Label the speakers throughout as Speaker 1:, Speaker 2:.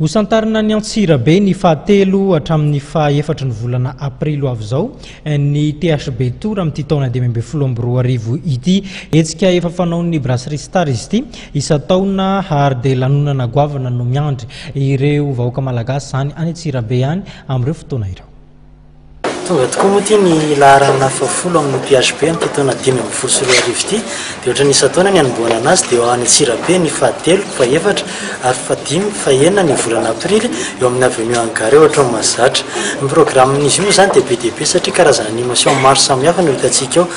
Speaker 1: Hosantarina any Antsirabe ny fahatelo hatramin'ny fahefatry ny volana aprily ho avy izao eh, ny THB Tour amin'ity taona dimy ambin'ny folo amby roa arivo ity. Hetsika efa fanaon'ny Brasserie Star izy ity isan-taona ary dia lanonana goavana no miandry ireo vahoaka malagasy izany any Antsirabe any amin'ireo fotoana ireo. Tonga
Speaker 2: tokoa moa ity ny laharana fahafolo amin'ny PHP amin'ity taona dimy ambin'ny folo sy roa arivo ity. Dia ohatran'ny isan-taona ny hanombohana anazy dia ao any Antsirabe ny fahatelo, fahefatra ary fahadimy, fahenina ny volana aprily eo amin'ny avenue Hangar eo Atrano Mahazatra. Ny programin'izy io moa izany dia be dia be satria karazana animation maro samihafa no hitantsika ao.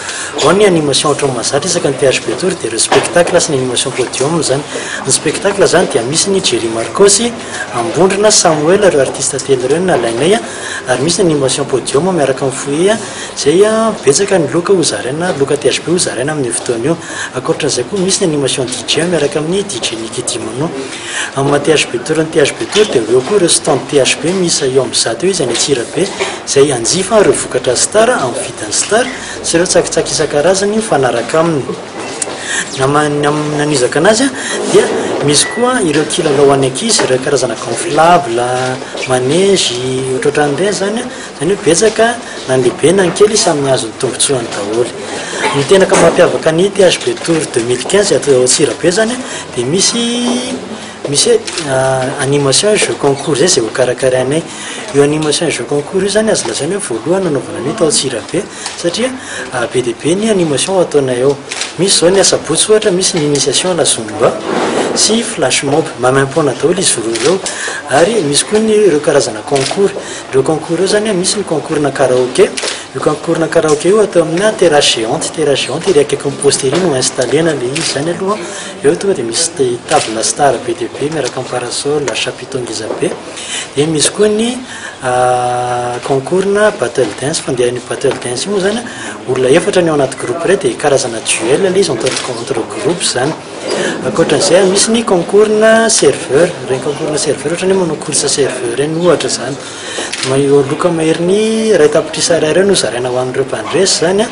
Speaker 2: Ao ny animation ao Atrano Mahazatra isaky ny PHP Tour dia ireo spectacle sy ny animation podium izany. Ny spectacle izany dia misy ny Jerry Marcos, Ambondrona, Samoela, ireo artista telo ireo no nalainay a, ary misy ny animation podium miaraka amin'ny foyer a, izay a betsaka ny loka ho zaraina, loka THB ho zaraina amin'io fotoana io. Ankoatran'izay koa misy ny animation DJ miaraka amin'ny DJ Nicky Dimano. Amin'ny maha THB Tour ny THB Tour dia ho eo koa ireo stand THB miisa eo amin'ny zato eo izay any Antsirabe, izay hanjifa ireo vokatra Star amin'ny vidin'ny Star sy ireo tsakitsaky isan-karazany mifanaraka aminy. Nanizaka anazy dia misy koa ireo kilalao ho an'ny ankizy, ireo karazana gonflable, manège, ohatrohatran'ireny izany. Izany hoe betsaka na ny lehibe na ny kely samy nahazo ny tombontsoany daholo. Ny tena mampiavaka ny THB Tour deux mille quinze ato Antsirabe izany dia misy misy hoe animation jeu concours izay hokarakarainay. Io animation jeu concours io izany azo lazaina hoe voalohany nanaovana an'io tao Antsirabe. Satria be dia be ny animation ataonay ao. Misy izao ny asabotsy ohatra misy ny initiation à la zumba sy flash mob. Maimaim-poana daholo izy roa ireo. Ary misy koa ny ireo karazana concours. Ireo concours ireo izany misy ny concours-na karaoke. Io concours-na karaoke io atao amina terrasse géante. Terrasse géante ery akaikin'ny poste ery no installer-na ilay izy izany aloha. Eo tonga dia misy table star be dia be miaraka amin'ny parasol, chapiteau ngezabe. Dia misy koa ny. Concours-na battle dance, fandeha an'io battle dance io moa izany an, olona efatra ny ao anaty groupe iray dia karazana duel ilay izy entre entre groupes izany. Ankoatra an'izay an, misy ny concours-na serveur, ireny concours-na serveur ohatra ny hoe manao course serveur ireny ohatra izany. Ireo loka maherin'ny iray tapitrisa Ar ireo no zaraina ho an'ireo mpandresy izany an.